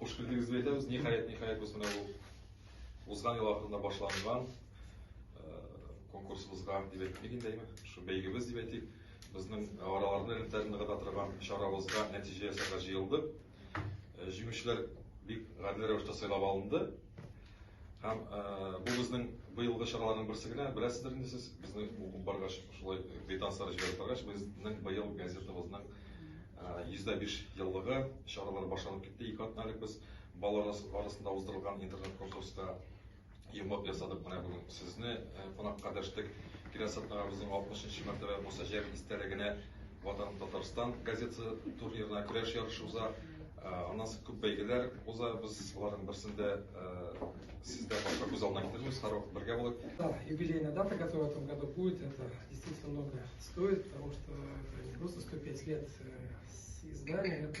Хуш килдегез дип әйтәбез. Ниһаять, ниһаять без менә бу узган ел ахырында башланган конкурсыбызга дип әйтик инде, әйме? Шу бәйгебез дип әйтик. Безнең араларны элемтәләрне гына торган чарабызга нәтиҗә ясарга җыелдык. Җиңүчеләр бик гадел рәвештә сайлап алынды. Һәм бу безнең быелгы чараларның берсе генә. Беләсездер инде сез, безне укып баргач, шулай квитанцияләр җибәреп баргач, безнең быел газетабызның 105 еллыгы чаралары башланып китте. Ике атна элек без балалар арасында уздырылган интернет-конкурска йомгак ясадык менә бүген сезне кунакка дәштек. Киләсе атнагыбызның 60 нчы мәртәбә Муса Җәлил истәлегенә Ватан Татарстан газетасы турнирына көрәш ярышы уза. Аннан соң күп бәйгеләр уза. Без аларның берсендә сездә башка күз алдына китермибез, һәрвакыт бергә булыйк. Да, юбилейная дата, которая в этом году будет, это действительно много стоит, потому что это не просто 105 лет с издания, это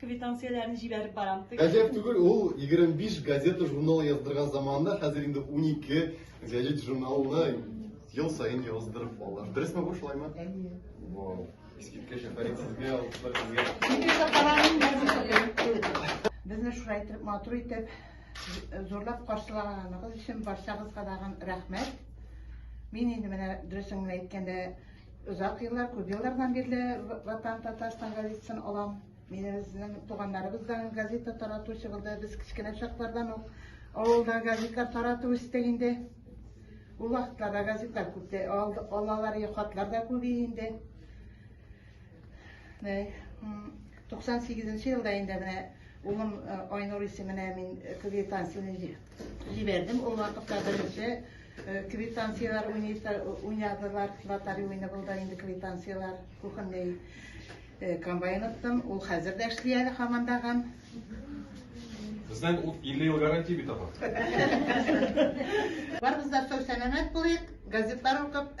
Квитанцияләрне җибәреп барам. Гаҗәп түгел, ул 25 газета-журнал яздырган заманында хәзер инде 12 газета-журналны ел саен яздырып ала. Дөресме бу, шулаймы? Әйе. Вау. Искиткеч, афәрин сезгә, алкышлар сезгә. Безне шулай итеп матур итеп зурлап каршылаганыгыз өчен барчагызга да рәхмәт. Мин инде менә дөресен генә әйткәндә Озак еллар, күп еллардан бирле Ватан Татарстан газетасын алам. Мин безнең туганнарыбыздан газета таратучы булды. Без кечкенә чаклардан ук авылда газета таратып үстек инде. Ул вакытларда газеталар күп тә алалар, хатлар да күп инде. 98 елда инде менә улым Айнур исеменә мин квитанцияне Җибәрдем, ул вакытта беренче э, квитанцияләр уйнадылар, лотари уйны булды инде квитанцияләр, кухонный э, комбайн оттым, ул хәзер дә эшли әле хамандаган. Безнең 50 ел гарантия бит апа. Барыбыз да сау-сәламәт булыйк, газетлар укып,